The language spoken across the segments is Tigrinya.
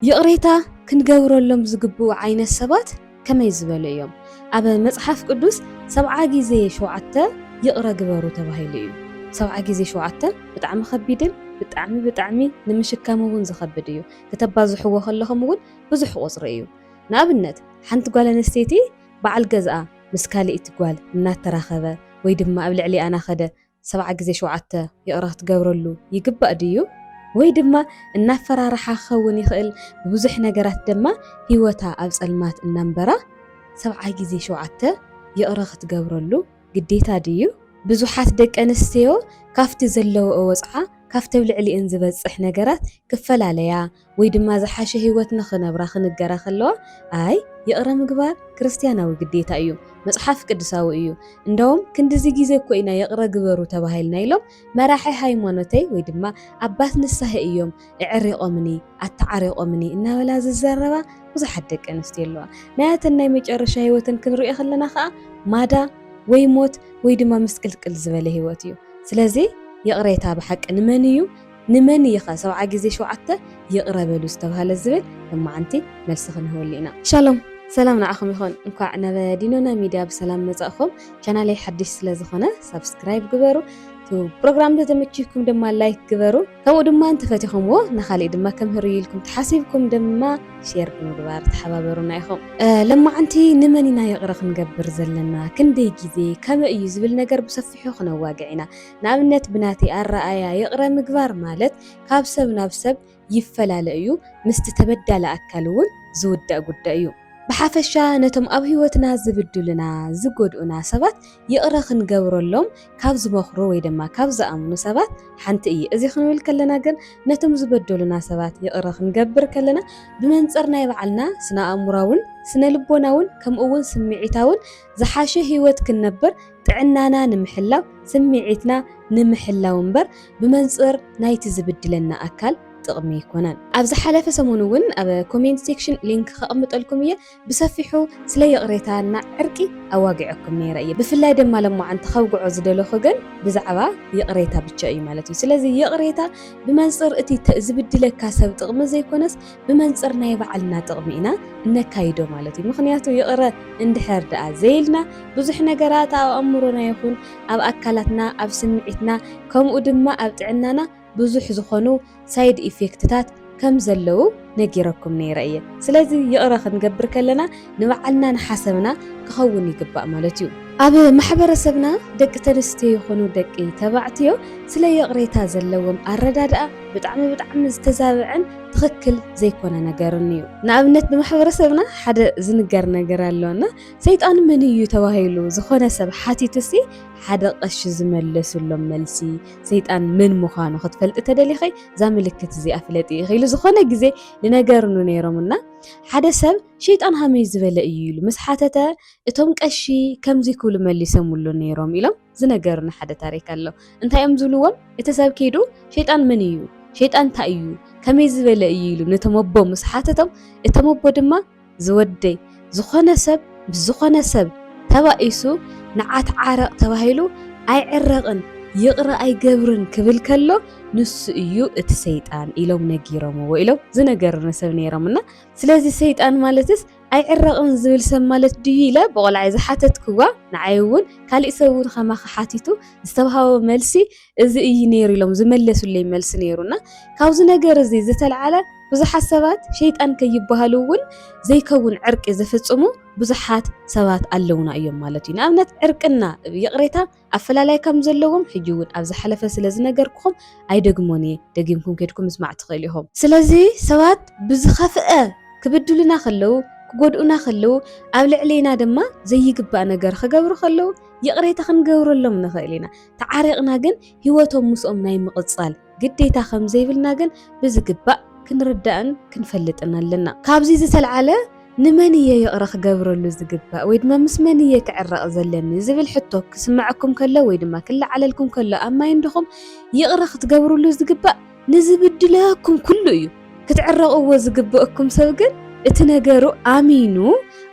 ይቕሬታ ክንገብረሎም ዝግብኡ ዓይነት ሰባት ከመይ ዝበሉ እዮም? ኣብ መጽሓፍ ቅዱስ ሰብዓ ግዜ ሸውዓተ ይቕረ ግበሩ ተባሂሉ እዩ። ሰብዓ ግዜ ሸውዓተ ብጣዕሚ ከቢድን ብጣዕሚ ብጣዕሚ ንምሽካም እውን ዝኸብድ እዩ። ክተባዝሕዎ ከለኹም እውን ብዙሕ ቁጽሪ እዩ። ንኣብነት ሓንቲ ጓል ኣንስተይቲ በዓል ገዝኣ ምስ ካልእቲ ጓል እናተራኸበ ወይ ድማ ኣብ ልዕሊኣ ናኸደ ሰብዓ ግዜ ሸውዓተ ይቕረ ክትገብረሉ ይግባእ ድዩ? ወይ ድማ እናፈራርሓ ክኸውን ይኽእል፣ ብብዙሕ ነገራት ደማ ህይወታ ኣብ ጸልማት እናንበራ ሰብዓ ግዜ ሸውዓተ ይቕረ ክትገብረሉ ግዴታ ድዩ? ብዙሓት ደቂ ኣንስትዮ ካብቲ ዘለውኦ ወጽዓ ካብቲ ኣብ ልዕሊኤን ዝበጽሕ ነገራት ክፈላለያ ወይ ድማ ዝሓሸ ህይወት ንኽነብራ ኽንገራ ኸለዋ፣ ኣይ፣ ይቕረ ምግባር ክርስትያናዊ ግዴታ እዩ፣ መጽሓፍ ቅዱሳዊ እዩ፣ እንደውም ክንድዚ ግዜ እኮ ኢና ይቕረ ግበሩ ተባሂልና ኢሎም መራሒ ሃይማኖተይ ወይ ድማ ኣባት ንስሃይ እዮም እዕሪቖምኒ፣ ኣተዓሪቖምኒ እናበላ ዝዛረባ ብዙሓት ደቂ ኣንስትዮ ኣለዋ። ናያተን ናይ መጨረሻ ህይወተን ክንርእዮ ኸለና ኸኣ ማዳ ወይ ሞት ወይ ድማ ምስቅልቅል ዝበለ ህይወት እዩ። ስለዚ ይቕሬታ ብሓቂ ንመን እዩ ንመን እይኸ ሰብዓ ግዜ ሸውዓተ ይቅረ በሉ ዝተብሃለ ዝብል ለማዓንቲ መልሲ ክንህበሉ ኢና። ሻሎም ሰላም ንዓኹም ይኹን እንኳዕ ናብ ዲኖና ሚድያ ብሰላም መፃእኹም ቻናለይ ሓድሽ ስለዝኾነ ሳብስክራይብ ግበሩ እቲ ፕሮግራም እንተተመችይኩም ድማ ላይክ ግበሩ ከምኡ ድማ እንተፈቲኹምዎ ንኻሊእ ድማ ከምህር እዩ ኢልኩም ተሓሲብኩም ድማ ሼር ብምግባር ተሓባበሩና ኢኹም ለማዓንቲ ንመን ኢና ይቕረ ክንገብር ዘለና ክንደይ ግዜ ከመይ እዩ ዝብል ነገር ብሰፊሑ ክነዋግዕ ኢና ንኣብነት ብናተይ ኣረኣእያ ይቕረ ምግባር ማለት ካብ ሰብ ናብ ሰብ ይፈላለ እዩ፣ ምስቲ ተበዳሊ ኣካል እውን ዝውዳእ ጉዳይ እዩ። ብሓፈሻ ነቶም ኣብ ህይወትና ዝብድሉና፣ ዝጎድኡና፣ ሰባት ይቕረ ክንገብረሎም ካብ ዝመኽሩ ወይ ድማ ካብ ዝኣምኑ ሰባት ሓንቲ እየ። እዚ ክንብል ከለና ግን ነቶም ዝበደሉና ሰባት ይቕረ ክንገብር ከለና ብመንጽር ናይ ባዕልና ስነ-ኣእምሮኣውን ስነ-ልቦናውን ከምኡ'ውን ስምዒታውን ዝሓሸ ህይወት ክንነብር ጥዕናና ንምሕላው ስምዒትና ንምሕላው እምበር ብመንጽር ናይቲ ዝብድለና ኣካል ጥቕሚ ኣይኮነን። ኣብ ዝሓለፈ ሰሙን እውን ኣብ ኮሜንት ሴክሽን ሊንክ ከቕምጠልኩም እየ ብሰፊሑ ስለ ይቕሬታ እና ዕርቂ ኣዋጊዐኩም ነይረ እየ ብፍላይ ደማ ለሞዓንቲ ከውግዖ ዝደለኹ ግን ብዛዕባ ይቕሬታ ብቻ እዩ ማለት እዩ ስለዚ ይቕሬታ ብመንጽር እቲ ዝብድለካ ሰብ ጥቕሚ ዘይኮነስ ብመንጽር ናይ ባዕልና ጥቕሚ ኢና እነካይዶ ማለት እዩ። ምኽንያቱ ይቕረ እንድሕር ደኣ ዘይልና ብዙሕ ነገራት ኣብ ኣእምሮና ይኹን ኣብ ኣካላትና፣ ኣብ ስምዒትና ከምኡ ድማ ኣብ ጥዕናና ብዙሕ ዝኾኑ ሳይድ ኢፌክትታት ከም ዘለዉ ነጊረኩም ነይረ እየ። ስለዚ ይቕረ ክንገብር ከለና ንባዕልና ንሓሰብና ክኸውን ይግባእ ማለት እዩ። ኣብ ማሕበረሰብና ደቂ ተንስትዮ ይኹኑ ደቂ ተባዕትዮ ስለ ይቕሬታ ዘለዎም ኣረዳድኣ ብጣዕሚ ብጣዕሚ ዝተዛበዐን ትኽክል ዘይኮነ ነገርን እዩ። ንኣብነት ብማሕበረሰብና ሓደ ዝንገር ነገር ኣሎ እና ሰይጣን መን እዩ ተባሂሉ ዝኾነ ሰብ ሓቲቱሲ ሓደ ቀሺ ዝመለሱሎም መልሲ ሰይጣን መን ምዃኑ ክትፈልጢ ተደሊኺ እዛ ምልክት እዚኣ ፍለጢ ኢኺ ኢሉ ዝኾነ ግዜ ንነገርኑ ነይሮም እና ሓደ ሰብ ሸይጣን ሃመይ ዝበለ እዩ ኢሉ ምስ ሓተተ እቶም ቀሺ ከምዚ ክብሉ መሊሰምሉ ነይሮም ኢሎም ዝነገሩኒ ሓደ ታሪክ ኣሎ። እንታይ እዮም ዝብልዎም? እቲ ሰብ ከይዱ ሸይጣን መን እዩ? ሸይጣን እንታይ እዩ? ከመይ ዝበለ እዩ ኢሉ ነቶም ኣቦ ምስ ሓተቶም እቶም ኣቦ ድማ ዝወደይ ዝኾነ ሰብ ምስ ዝኾነ ሰብ ተባኢሱ ንዓ ተዓረቕ ተባሂሉ ኣይዕረቕን ይቕረ ኣይገብርን ክብል ከሎ ንሱ እዩ እቲ ሰይጣን ኢሎም ነጊሮምዎ ኢሎም ዝነገሩኒ ሰብ ነይሮም እና ስለዚ ሰይጣን ማለትስ ኣይዕረቕን ዝብል ሰብ ማለት ድዩ ኢለ ብቖልዓይ ዝሓተትክዋ፣ ንዓይ እውን ካሊእ ሰብ እውን ከማኺ ሓቲቱ ዝተውሃቦ መልሲ እዚ እዩ ነይሩ ኢሎም ዝመለሱለይ መልሲ ነይሩ እና ካብዚ ነገር እዚ ዝተልዓለ ብዙሓት ሰባት ሸይጣን ከይበሃሉ እውን ዘይከውን ዕርቂ ዝፍፅሙ ብዙሓት ሰባት ኣለውና እዮም ማለት እዩ። ንኣብነት ዕርቅና ይቕሬታ ኣፈላላይ ከም ዘለዎም ሕጂ ውን ኣብ ዝሓለፈ ስለ ዝነገርኩኹም ኣይደግሞን እየ ደጊምኩም ኬድኩም ምስማዕ ትኽእሉ ኢኹም። ስለዚ ሰባት ብዝኸፍኣ ክብድሉና ከለዉ ክጎድኡና ከለዉ ኣብ ልዕሌና ድማ ዘይግባእ ነገር ክገብሩ ከለዉ ይቕሬታ ክንገብረሎም ንኽእል ኢና ተዓሪቕና ግን ሂወቶም ምስኦም ናይ ምቕጻል ግዴታ ከም ዘይብልና ግን ብዝግባእ ክንርዳእን ክንፈልጥን ኣለና። ካብዚ ዝተልዓለ ንመን እየ ይቕረ ክገብረሉ ዝግባእ ወይ ድማ ምስ መን እየ ክዕረቕ ዘለኒ ዝብል ሕቶ ክስመዐኩም ከሎ ወይ ድማ ክለዓለልኩም ከሎ ኣብ ማይንድኹም ይቕረ ክትገብርሉ ዝግባእ ንዝብድለኩም ኩሉ እዩ። ክትዕረቕዎ ዝግበእኩም ሰብ ግን እቲ ነገሩ ኣሚኑ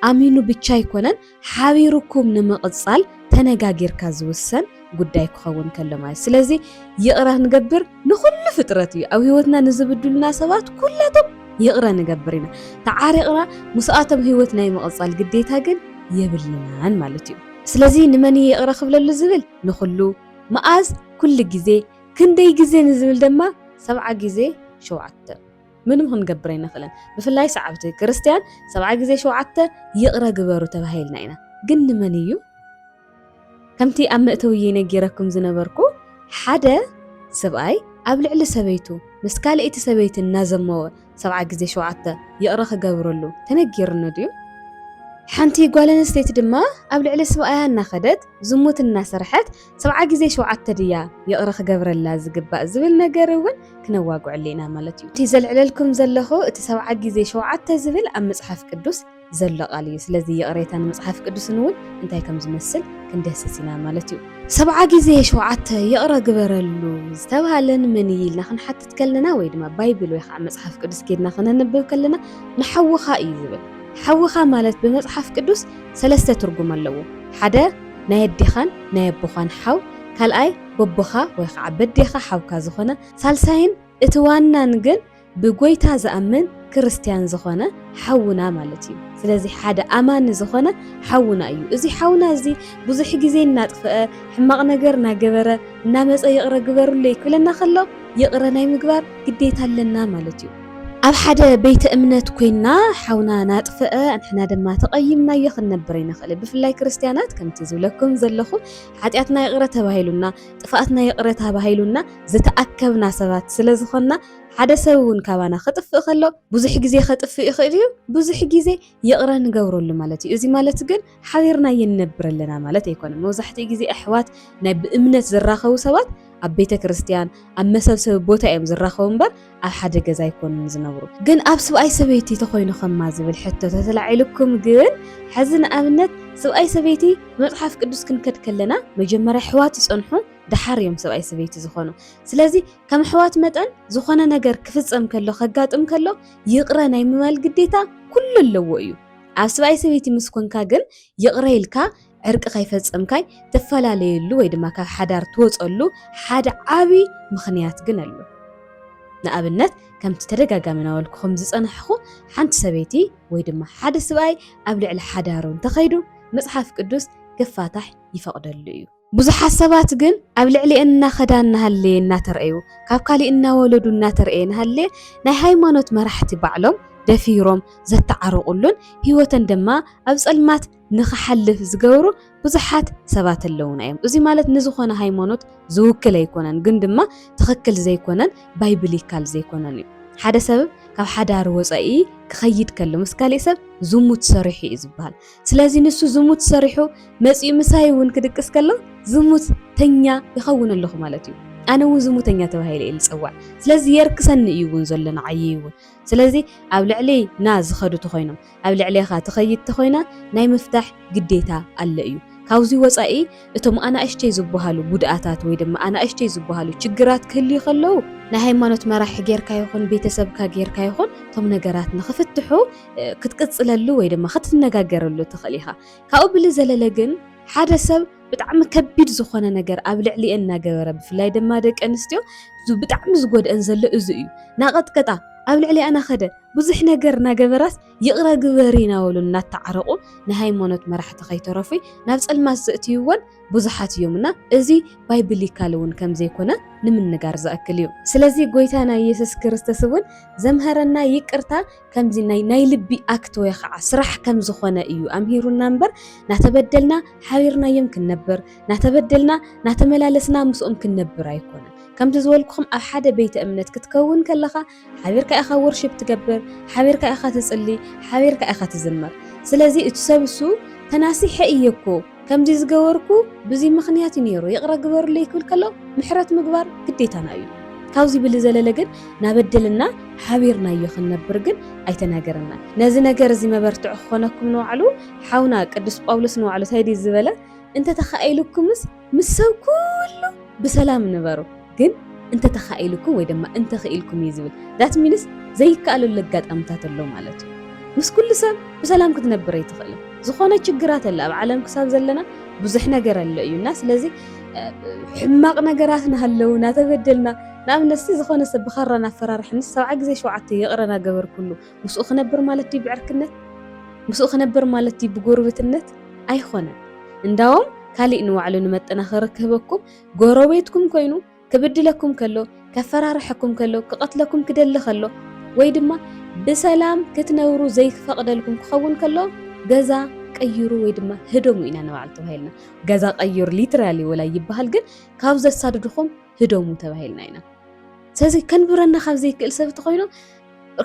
ኣሚኑ ብቻ ኣይኮነን ሓቢሩኩም ንምቕጻል ተነጋጊርካ ዝውሰን ጉዳይ ክኸውን ከሎ ማለት ስለዚ ይቕረ ንገብር ንኹሉ ፍጥረት እዩ ኣብ ህይወትና ንዝብድሉና ሰባት ኩላቶም ይቕረ ንገብር ኢና ተዓሪቕና ምስኣቶም ህይወት ናይ ምቕጻል ግዴታ ግን የብልናን ማለት እዩ ስለዚ ንመን እዩ ይቕረ ክብለሉ ዝብል ንኹሉ መኣዝ ኩሉ ግዜ ክንደይ ግዜ ንዝብል ድማ ሰብዓ ግዜ ሸውዓተ ምንም ክንገብር ኣይንኽእልን። ብፍላይ ሰዓብቲ ክርስትያን ሰብዓ ግዜ ሸውዓተ ይቕረ ግበሩ ተባሂልና ኢና። ግን ንመን እዩ? ከምቲ ኣብ መእተውየይ ነጊረኩም ዝነበርኩ ሓደ ሰብኣይ ኣብ ልዕሊ ሰበይቱ ምስ ካልኣይቲ ሰበይቲ እናዘመወ ሰብዓ ግዜ ሸውዓተ ይቕረ ክገብረሉ ተነጊርኒ ድዩ? ሓንቲ ጓል ኣንስተይቲ ድማ ኣብ ልዕሊ ሰብኣያ እናኸደት ዝሙት እናሰርሐት ሰብዓ ግዜ ሸውዓተ ድያ ይቕረ ክገብረላ ዝግባእ ዝብል ነገር እውን ክነዋግዐሉ ኢና ማለት እዩ። እቲ ዘልዕለልኩም ዘለኹ እቲ ሰብዓ ግዜ ሸውዓተ ዝብል ኣብ መጽሓፍ ቅዱስ ዘሎ ቃል እዩ። ስለዚ ይቕሬታን መጽሓፍ ቅዱስን እውን እንታይ ከም ዝመስል ክንደህስስ ኢና ማለት እዩ። ሰብዓ ግዜ ሸውዓተ ይቕረ ግበረሉ ዝተባህለ ንመን እዩ ኢልና ክንሓትት ከለና ወይ ድማ ባይብል ወይ ከዓ መጽሓፍ ቅዱስ ኬድና ክነንብብ ከለና ንሓውኻ እዩ ዝብል። ሓውኻ ማለት ብመጽሓፍ ቅዱስ ሰለስተ ትርጉም ኣለዎ። ሓደ ናይ ኣዴኻን ናይ ኣቦኻን ሓው፣ ካልኣይ በቦኻ ወይ ኸዓ በዴኻ ሓውካ ዝኾነ፣ ሳልሳይን እቲ ዋናን ግን ብጎይታ ዝኣምን ክርስትያን ዝኾነ ሓውና ማለት እዩ። ስለዚ ሓደ ኣማኒ ዝኾነ ሓውና እዩ። እዚ ሓውና እዚ ብዙሕ ግዜ እናጥፈኣ ሕማቕ ነገር እናገበረ እናመፀ ይቕረ ግበሩለይ ክብለና ከሎ ይቕረ ናይ ምግባር ግዴታ ኣለና ማለት እዩ። ኣብ ሓደ ቤተ እምነት ኮይና ሓውና ናጥፍእ ንሕና ድማ ተቐይምናዮ ክንነብር ኣይንኽእል። ብፍላይ ክርስትያናት ከምቲ ዝብለኩም ዘለኹ ሓጢኣትና ይቕረ ተባሂሉና ጥፍኣትና ይቕረ ተባሂሉና ዝተኣከብና ሰባት ስለ ዝኾንና ሓደ ሰብ እውን ካባና ከጥፍእ ከሎ ብዙሕ ግዜ ከጥፍእ ይኽእል እዩ፣ ብዙሕ ግዜ ይቕረ ንገብረሉ ማለት እዩ። እዚ ማለት ግን ሓቢርና ይንነብር ኣለና ማለት ኣይኮነን። መብዛሕትኡ ግዜ ኣሕዋት ናይ ብእምነት ዝራኸቡ ሰባት ኣብ ቤተ ክርስቲያን ኣብ መሰብሰቢ ቦታ እዮም ዝራኸቡ እምበር ኣብ ሓደ ገዛ ኣይኮኑን ዝነብሩ። ግን ኣብ ስብኣይ ሰበይቲ ተኾይኑ ከማ ዝብል ሕቶ ተተላዒሉኩም ግን ሕዚ ንኣብነት ስብኣይ ሰበይቲ መጽሓፍ ቅዱስ ክንከድ ከለና መጀመርያ ኣሕዋት ይጸንሑ ደሓር እዮም ሰብኣይ ሰበይቲ ዝኾኑ። ስለዚ ከም ኣሕዋት መጠን ዝኾነ ነገር ክፍጸም ከሎ ከጋጥም ከሎ ይቕረ ናይ ምባል ግዴታ ኩሉ ኣለዎ እዩ። ኣብ ስብኣይ ሰበይቲ ምስ ኮንካ ግን ይቕረ ኢልካ ዕርቂ ከይፈጸምካይ ትፈላለየሉ ወይ ድማ ካብ ሓዳር ትወጸሉ ሓደ ዓቢ ምኽንያት ግን ኣሎ። ንኣብነት ከምቲ ተደጋጋሚ ናበልኩኹም ዝጸናሕኹ ሓንቲ ሰበይቲ ወይ ድማ ሓደ ስብኣይ ኣብ ልዕሊ ሓዳሩ እንተኸይዱ መጽሓፍ ቅዱስ ክፋታሕ ይፈቕደሉ እዩ። ብዙሓት ሰባት ግን ኣብ ልዕሊኤን እናኸዳ እናሃለየ እናተርኣዩ ካብ ካሊእ እናወለዱ እናተርኣየ እናሃለየ ናይ ሃይማኖት መራሕቲ ባዕሎም ደፊሮም ዘታዓርቑሉን ሂወተን ድማ ኣብ ፀልማት ንኽሓልፍ ዝገብሩ ብዙሓት ሰባት ኣለዉና እዮም። እዙይ ማለት ንዝኾነ ሃይማኖት ዝውክል ኣይኮነን ግን ድማ ትኽክል ዘይኮነን ባይብሊካል ዘይኮነን እዩ። ሓደ ሰብ ካብ ሓዳር ወፃኢ ክኸይድ ከሎ ምስ ካሊእ ሰብ ዝሙት ሰሪሑ እዩ ዝበሃል። ስለዚ ንሱ ዝሙት ሰሪሑ መጺኡ ምሳይ እውን ክድቅስ ከሎ ዝሙተኛ ይኸውን ኣለኹ ማለት እዩ። ኣነ እውን ዝሙተኛ ተባሂለ እየ ዝፅዋዕ። ስለዚ የርክሰኒ እዩ እውን ዘሎ ንዓይ እውን። ስለዚ ኣብ ልዕሊ ና ዝኸዱ ተኾይኖም ኣብ ልዕሌኻ ትኸይድ ተኾይና ናይ ምፍታሕ ግዴታ ኣለ እዩ። ካብዚ ወፃኢ እቶም ኣናእሽተይ ዝበሃሉ ጉድኣታት ወይ ድማ ኣናእሽተይ ዝበሃሉ ችግራት ክህልዩ ከለዉ ናይ ሃይማኖት መራሒ ጌርካ ይኹን ቤተሰብካ ጌርካ ይኹን እቶም ነገራት ንኽፍትሑ ክትቅጽለሉ ወይ ድማ ክትነጋገረሉ ትኽእል ኢኻ። ካብኡ ብልዘለለ ግን ሓደ ሰብ ብጣዕሚ ከቢድ ዝኾነ ነገር ኣብ ልዕሊኤን እናገበረ ብፍላይ ድማ ደቂ ኣንስትዮ ብጣዕሚ ዝጎድአን ዘሎ እዚ እዩ። ናቐጥቀጣ ኣብ ልዕሊኣ ናኸደ ብዙሕ ነገር እናገበራስ ይቕረ ግበሪ እናበሉ እናተዓረቑ ንሃይማኖት መራሕቲ ከይተረፉ ናብ ጸልማት ዘእትይወን ብዙሓት እዮም እና እዚ ባይብሊካል እውን ከም ዘይኮነ ንምንጋር ዝኣክል እዩ። ስለዚ ጎይታና ኢየሱስ ክርስቶስ እውን ዘምሀረና ይቅርታ ከምዚ ናይ ናይ ልቢ ኣክት ወይ ኸዓ ስራሕ ከም ዝኾነ እዩ ኣምሂሩና እምበር ናተበደልና ሓቢርናዮም ክንነብር ናተበደልና ናተመላለስና ምስኦም ክንነብር ኣይኮነን። ከምቲ ዝበልኩኹም ኣብ ሓደ ቤተ እምነት ክትከውን ከለኻ ሓቢርካ ኢኻ ወርሺፕ ትገብር፣ ሓቢርካ ኢኻ ትጽሊ፣ ሓቢርካ ኢኻ ትዝምር። ስለዚ እቲ ሰብ እሱ ተናሲሐ እየ እኮ ከምዚ ዝገበርኩ ብዙይ ምኽንያት እዩ ነይሩ ይቕረ ግበሩለይ ክብል ከሎ ምሕረት ምግባር ግዴታና እዩ። ካብዚ ብልዘለለ ግን ናበደልና ሓቢርናዮ ክንነብር ግን ኣይተናገረናን። ነዚ ነገር እዚ መበርትዒ ክኾነኩም ንባዕሉ ሓውና ቅዱስ ጳውሎስ ንባዕሉ ታይ ድዩ ዝበለ እንተተኻኢሉኩምስ ምስ ሰብ ኩሉ ብሰላም ንበሩ። ግን እንተተኻኢሉኩ ወይ ድማ እንተኽኢልኩም እዩ ዝብል ዳት ሚንስ ዘይከኣለሉ ኣጋጣምታት ኣሎ ማለት እዩ። ምስ ኩሉ ሰብ ብሰላም ክትነብር ኣይትኽእልን። ዝኾነ ችግራት ኣለ ኣብ ዓለም ክሳብ ዘለና ብዙሕ ነገር ኣሎ እዩ እና ስለዚ ሕማቕ ነገራት ናሃለዉ ናተበደልና ንኣብነት ሲ ዝኾነ ሰብ ብኻራ ናፈራርሐኒ ሰብዓ ግዜ ሸውዓተ ይቕረ ናገበርኩሉ ምስኡ ክነብር ማለት ድዩ ብዕርክነት ምስኡ ክነብር ማለት ድዩ ብጎርብትነት ኣይኾነን እንዳዎም ካሊእ ንባዕሉ ንመጠናኸሪ ክህበኩም ጎረቤትኩም ኮይኑ ክብድለኩም ከሎ፣ ከፈራርሐኩም ከሎ፣ ክቐትለኩም ክደሊ ከሎ፣ ወይ ድማ ብሰላም ክትነብሩ ዘይፈቕደልኩም ክኸውን ከሎ ገዛ ቀይሩ ወይ ድማ ህደሙ ኢና ንባዕል ተባሂልና። ገዛ ቀይሩ ሊትራሊ ወላ ይበሃል፣ ግን ካብ ዘሳድድኹም ህደሙ ተባሂልና ኢና። ስለዚ ከንብረና ካብ ዘይክእል ሰብ እንተኮይኑ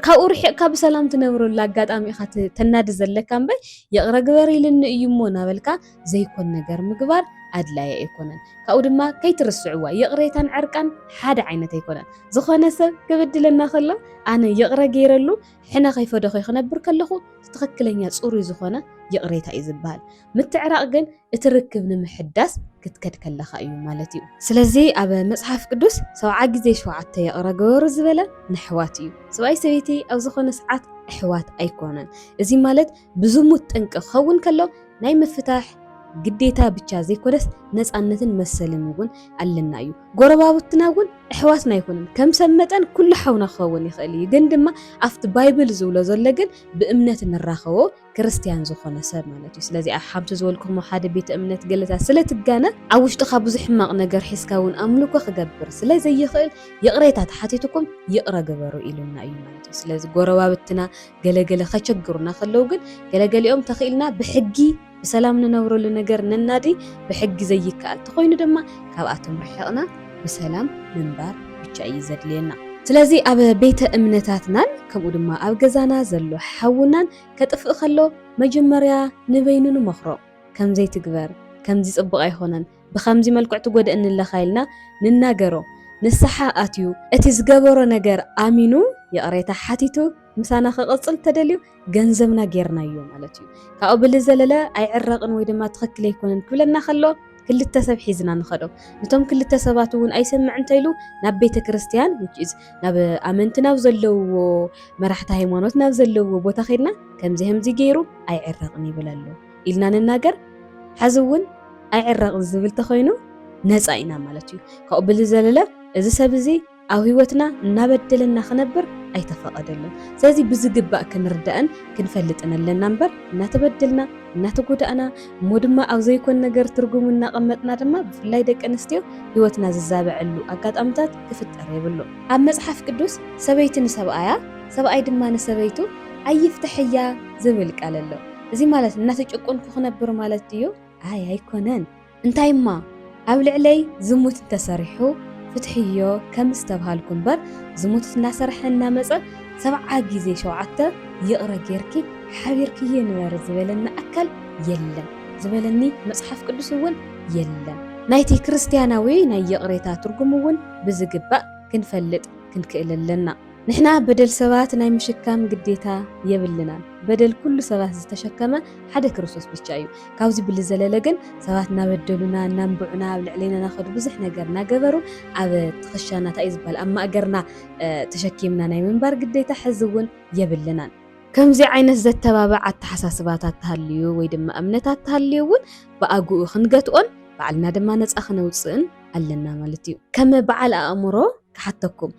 ካብኡ ርሒቕካ ብሰላም ትነብረሉ ኣጋጣሚ ኢኻ ተናዲ ዘለካ እምበር ይቕረ ግበሪልኒ እዩ እሞ እናበልካ ዘይኮን ነገር ምግባር ኣድላዪ ኣይኮነን። ካብኡ ድማ ከይትርስዕዋ ይቕሬታን ዕርቃን ሓደ ዓይነት ኣይኮነን። ዝኾነ ሰብ ክብድለና ከሎ ኣነ ይቕረ ገይረሉ ሕነ ከይፈደኾ ክነብር ከለኹ ትኽክለኛ ጽሩይ ዝኾነ ይቕሬታ እዩ ዝበሃል። ምትዕራቕ ግን እቲ ርክብ ንምሕዳስ ክትከድ ከለኻ እዩ ማለት እዩ። ስለዚ ኣብ መጽሓፍ ቅዱስ ሰብዓ ግዜ ሸውዓተ ይቕረ ገበሩ ዝበለ ንኣሕዋት እዩ። ሰብኣይ ሰበይቲ ኣብ ዝኾነ ሰዓት ኣሕዋት ኣይኮኑን። እዚ ማለት ብዝሙት ጠንቂ ክኸውን ከሎ ናይ ምፍታሕ ግዴታ ብቻ ዘይኮነስ ነፃነትን መሰልን እውን ኣለና እዩ። ጎረባብትና እውን ኣሕዋትና ኣይኮኑን። ከም ሰብ መጠን ኩሉ ሓውና ክኸውን ይኽእል እዩ፣ ግን ድማ ኣብቲ ባይብል ዝብሎ ዘሎ ግን ብእምነት ንራኸቦ ክርስትያን ዝኾነ ሰብ ማለት እዩ። ስለዚ ሓምቲ ዝበልኩኹም ኣብ ሓደ ቤተ እምነት ገለታት ስለ ትጋነ ኣብ ውሽጥኻ ብዙሕ ሕማቕ ነገር ሒዝካ እውን ኣምልኮ ክገብር ስለ ዘይኽእል ይቕሬታ ተሓቲትኩም ይቕረ ግበሩ ኢሉና እዩ ማለት እዩ። ስለዚ ጎረባብትና ገለ ገለ ከቸግሩና ከለዉ ግን ገለ ገሊኦም ተኺኢልና ብሕጊ ብሰላም ንነብረሉ ነገር ነናዲ ብሕጊ ዘይከኣል ተኾይኑ ድማ ካብኣቶም ርሒቕና ብሰላም ምንባር ብቻ እዩ ዘድልየና። ስለዚ ኣብ ቤተ እምነታትናን ከምኡ ድማ ኣብ ገዛና ዘሎ ሓውናን ከጥፍእ ከሎ መጀመርያ ንበይኑ ንመኽሮ ከምዚ ኣይትግበር ከምዚ ጽቡቕ ኣይኾነን ብኸምዚ መልክዕ ትጎድእኒ ኣለኻ ኢልና ንናገሮ። ንስሓ ኣትዩ እቲ ዝገበሮ ነገር ኣሚኑ ይቕሬታ ሓቲቱ ምሳና ክቕጽል እንተደልዩ ገንዘብና ጌርናዮ ማለት እዩ። ካብኡ ብልዘለለ ኣይዕረቕን ወይ ድማ ትኽክል ኣይኮነን ክብለና ከሎ ክልተ ሰብ ሒዝና ንኸዶ። ነቶም ክልተ ሰባት እውን ኣይሰምዕ እንተይሉ ናብ ቤተ ክርስቲያን which is ናብ ኣመንቲ ናብ ዘለውዎ መራሕቲ ሃይማኖት ናብ ዘለውዎ ቦታ ከይድና ከምዚ ከምዚ ገይሩ ኣይዕረቕን ይብል ኣሎ። ኢልና ንናገር ሐዚ እውን ኣይዕረቕን ዝብል ተኾይኑ ነፃ ኢና ማለት እዩ። ካብኡ ብዝዘለለ እዚ ሰብ እዚ ኣብ ህይወትና እናበደለና ክነብር ኣይተፈቐደሉን። ስለዚ ብዝግባእ ክንርዳእን ክንፈልጥን ኣለና እምበር እናተበደልና እናተጎዳእና እሞ ድማ ኣብ ዘይኮን ነገር ትርጉሙ እናቐመጥና ድማ ብፍላይ ደቂ ኣንስትዮ ህይወትና ዝዛበዐሉ ኣጋጣምታት ክፍጠር የብሉ። ኣብ መፅሓፍ ቅዱስ ሰበይቲ ንሰብኣያ ሰብኣይ ድማ ንሰበይቱ ኣይፍተሐያ ዝብል ቃል ኣሎ። እዚ ማለት እናተጨቆንኩ ክነብር ማለት ድዩ? ኣይ ኣይኮነን። እንታይ እማ ኣብ ልዕለይ ዝሙት እንተሰሪሑ ፍትሕዮ ከምዝተብሃልኩ እምበር ዝሙት እናሰረሐ እናመፀ ሰብዓ ግዜ ሸውዓተ ይቕረ ገይርኪ ሓቢርክዬ ንበሪ ዝበለኒ ኣካል የለን። ዝበለኒ መፅሓፍ ቅዱስ እውን የለን። ናይቲ ክርስትያናዊ ናይ ይቕሬታ ትርጉም እውን ብዝግባእ ክንፈልጥ ክንክእል ኣለና። ንሕና በደል ሰባት ናይ ምሽካም ግዴታ የብልናን በደል ኩሉ ሰባት ዝተሸከመ ሓደ ክርስቶስ ብቻ እዩ ካብዚ ብልዘለለ ግን ሰባት ናበደሉና ናንብዑና ኣብ ልዕሌና ናኸዱ ብዙሕ ነገር ናገበሩ ኣብ ትኽሻና ታይ ዝበሃል ኣብ ማእገርና ተሸኪምና ናይ ምንባር ግዴታ ሕዚ እውን የብልናን ከምዚ ዓይነት ዘተባብዕ ኣተሓሳስባታት ተሃልዩ ወይ ድማ እምነታት ተሃልዩ እውን ብኣግኡ ክንገትኦን ባዕልና ድማ ነፃ ክነውፅእን ኣለና ማለት እዩ ከመ በዓል ኣእምሮ ክሓተኩም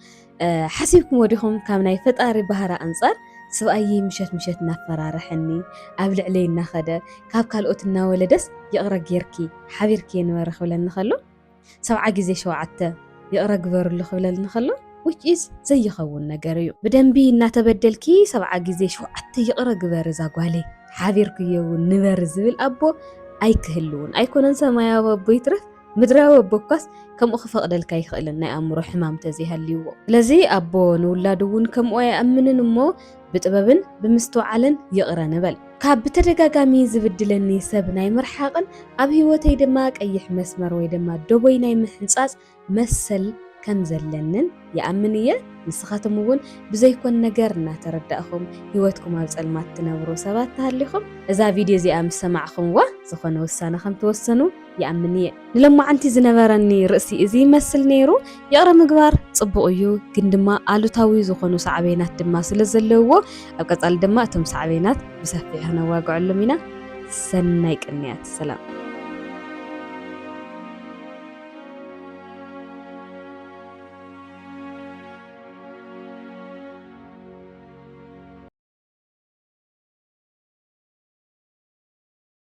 ሓሲብክሞ ዲኹም ካብ ናይ ፈጣሪ ባህሪ ኣንጻር ስብኣየይ ምሸት ምሸት እናፈራረሐኒ ኣብ ልዕለይ እናኸደ ካብ ካልኦት እናወለደስ ይቕረ ጌርኪ ሓቢርክየ ንበሪ ክብለኒ ከሎ ሰብዓ ግዜ ሸውዓተ ይቕረ ግበርሉ ክብለኒ ከሎ which is ዘይኸውን ነገር እዩ ብደንቢ እናተበደልኪ ሰብዓ ግዜ ሸውዓተ ይቕረ ግበሪ እዛ ጓለይ ሓቢርክዮ እውን ንበሪ ዝብል ኣቦ ኣይክህልውን ኣይኮነን ሰማያዊ ኣቦ ይትረፍ ምድራዊ ኣቦካስ ከምኡ ክፈቕደልካ ኣይክእልን ናይ ኣእምሮ ሕማም ተዘይሃልይዎ። ስለዚ ኣቦ ንውላዱ እውን ከምኡ ኣይኣምንን እሞ ብጥበብን ብምስትውዓልን ይቕረ ንበል። ካብ ብተደጋጋሚ ዝብድለኒ ሰብ ናይ ምርሓቕን ኣብ ህይወተይ ድማ ቀይሕ መስመር ወይ ድማ ደቦይ ናይ ምሕንጻጽ መሰል ከም ዘለንን ይኣምን እየ። ንስኻትም እውን ብዘይኮን ነገር እናተረዳእኹም ህይወትኩም ኣብ ጸልማት ትነብሩ ሰባት ተሃሊኹም እዛ ቪድዮ እዚኣ ምስ ሰማዕኹምዋ ዝኾነ ውሳነ ከም ትወስኑ ይኣምን እየ። ንሎማዓንቲ ዝነበረኒ ርእሲ እዚ ይመስል ነይሩ። ይቕረ ምግባር ጽቡቕ እዩ፣ ግን ድማ ኣሉታዊ ዝኾኑ ሳዕቤናት ድማ ስለ ዘለውዎ፣ ኣብ ቀጻሊ ድማ እቶም ሳዕቤናት ብሰፊሑ ክነዋግዐሎም ኢና። ሰናይ ቅንያት። ሰላም።